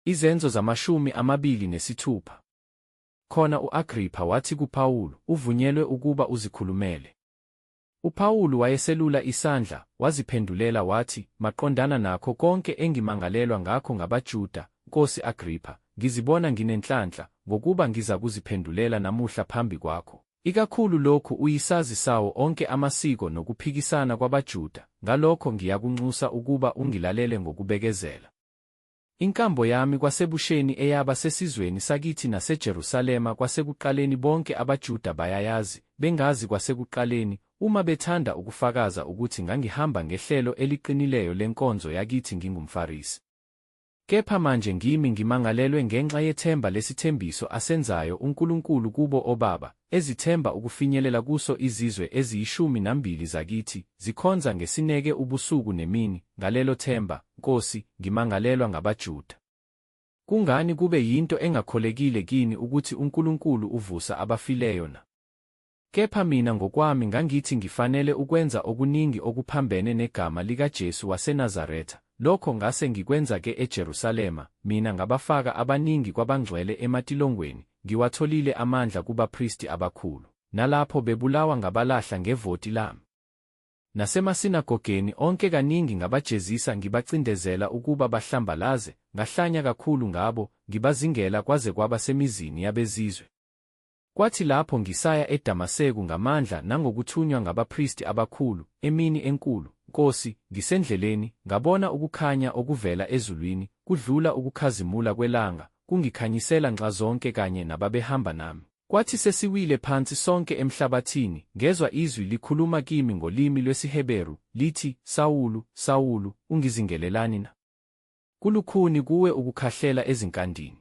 Izenzo zamashumi amabili nesithupha. Khona u-Agripha wathi kuPawulu, Uvunyelwe ukuba uzikhulumele. UPawulu wayeselula isandla, waziphendulela wathi, Maqondana nakho konke engimangalelwa ngakho ngabaJuda, Nkosi Agripha, ngizibona nginenhlanhla, ngokuba ngizakuziphendulela namuhla phambi kwakho. Ikakhulu lokhu uyisazi sawo onke amasiko nokuphikisana kwabaJuda, ngalokho ngiyakunxusa ukuba ungilalele ngokubekezela. Inkambo yami kwasebusheni eyaba sesizweni sakithi naseJerusalema kwasekuqaleni bonke abaJuda bayayazi, bengazi kwasekuqaleni, uma bethanda ukufakaza ukuthi ngangihamba ngehlelo eliqinileyo lenkonzo yakithi ngingumFarisi. Kepha manje ngimi ngimangalelwe ngenxa yethemba lesithembiso asenzayo uNkulunkulu kubo obaba, ezithemba ukufinyelela kuso izizwe eziyishumi nambili zakithi, zikhonza ngesineke ubusuku nemini, ngalelo themba, Nkosi, ngimangalelwa ngabaJuda. Kungani kube yinto engakholekile kini ukuthi uNkulunkulu uvusa abafileyo na? Kepha mina ngokwami ngangithi ngifanele ukwenza okuningi okuphambene negama likaJesu waseNazaretha, lokho ngase ngikwenza ke eJerusalema, mina ngabafaka abaningi kwabangcwele ematilongweni, ngiwatholile amandla kubapristi abakhulu, nalapho bebulawa ngabalahla ngevoti lami. Nasemasinagogeni onke kaningi ngabajezisa ngibacindezela ukuba bahlambalaze, ngahlanya kakhulu ngabo, ngibazingela kwaze kwaba semizini yabezizwe. Kwathi lapho ngisaya eDamaseku ngamandla nangokuthunywa ngabapristi abakhulu, emini enkulu, Nkosi, ngisendleleni, ngabona ukukhanya okuvela ezulwini, kudlula ukukhazimula kwelanga, kungikhanyisela nxazonke kanye nababehamba nami. Kwathi sesiwile phansi sonke emhlabathini, ngezwa izwi likhuluma kimi ngolimi lwesiHeberu, lithi, Sawulu, Sawulu, ungizingelelani na? Kulukhuni kuwe ukukhahlela ezinkandini.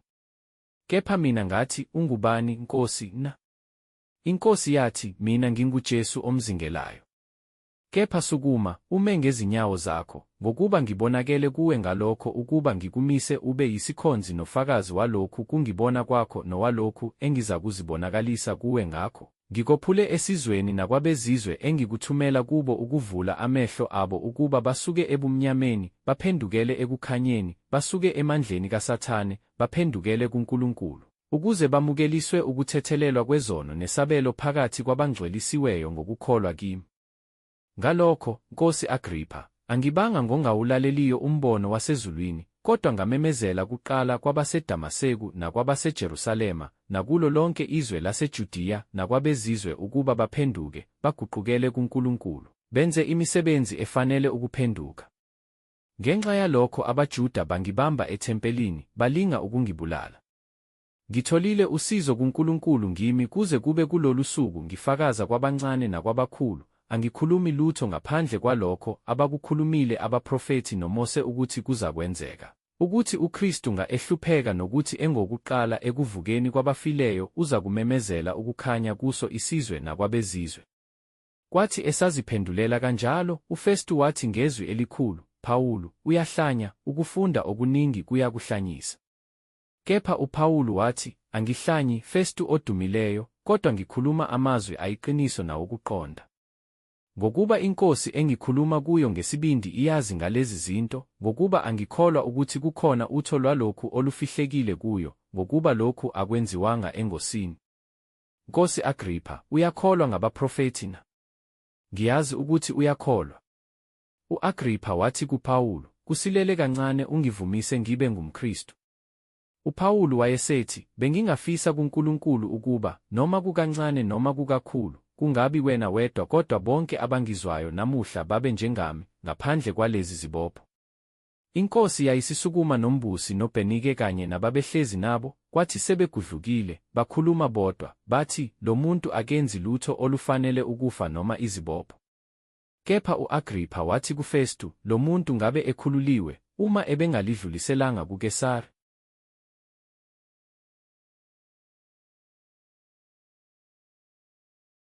Kepha mina ngathi, Ungubani, Nkosi, na? INkosi yathi, Mina nginguJesu omzingelayo. Kepha sukuma, ume ngezinyawo zakho, ngokuba ngibonakele kuwe ngalokho ukuba ngikumise ube yisikhonzi nofakazi walokhu kungibona kwakho nowalokhu engizakuzibonakalisa kuwe ngakho. Ngikophule esizweni nakwabezizwe engikuthumela kubo ukuvula amehlo abo ukuba basuke ebumnyameni, baphendukele ekukhanyeni, basuke emandleni kaSathane, baphendukele kuNkulunkulu, ukuze bamukeliswe ukuthethelelwa kwezono nesabelo phakathi kwabangcwelisiweyo ngokukholwa kimi. Ngalokho, Nkosi Agripha, angibanga ngongawulaleliyo umbono wasezulwini, kodwa ngamemezela kuqala kwabaseDamaseku nakwabaseJerusalema, nakulo lonke izwe laseJudiya nakwabezizwe ukuba baphenduke, baguqukele kuNkulunkulu, benze imisebenzi efanele ukuphenduka. Ngenxa yalokho abaJuda bangibamba ethempelini, balinga ukungibulala. Ngitholile usizo kuNkulunkulu ngimi kuze kube kulolu suku ngifakaza kwabancane nakwabakhulu, angikhulumi lutho ngaphandle kwalokho abakukhulumile abaprofethi noMose ukuthi kuzakwenzeka, ukuthi uKristu nga ehlupheka nokuthi engokuqala ekuvukeni kwabafileyo uzakumemezela ukukhanya kuso isizwe nakwabezizwe. Kwathi esaziphendulela kanjalo, uFestu wathi ngezwi elikhulu, Pawulu, uyahlanya, ukufunda okuningi kuyakuhlanyisa. Kepha uPawulu wathi, Angihlanyi, Festu odumileyo, kodwa ngikhuluma amazwi ayiqiniso nawokuqonda. Ngokuba iNkosi engikhuluma kuyo ngesibindi iyazi ngalezi zinto, ngokuba angikholwa ukuthi kukhona utho lwalokhu olufihlekile kuyo, ngokuba lokhu akwenziwanga engosini. Nkosi Agripha, uyakholwa ngabaprofethi na? Ngiyazi ukuthi uyakholwa. U-Agripha wathi kuPawulu, Kusilele kancane ungivumise ngibe ngumKristu. UPawulu wayesethi, Bengingafisa kuNkulunkulu ukuba, noma kukancane noma kukakhulu, kungabi wena wedwa kodwa bonke abangizwayo namuhla babe njengami, ngaphandle kwalezi zibopho. Inkosi yayisisukuma nombusi noBhenike kanye nababehlezi nabo, kwathi sebegudlukile, bakhuluma bodwa, bathi, Lo muntu akenzi lutho olufanele ukufa noma izibopho. Kepha u-Agripha wathi kuFestu, Lo muntu ngabe ekhululiwe, uma ebengalidluliselanga kuKesari.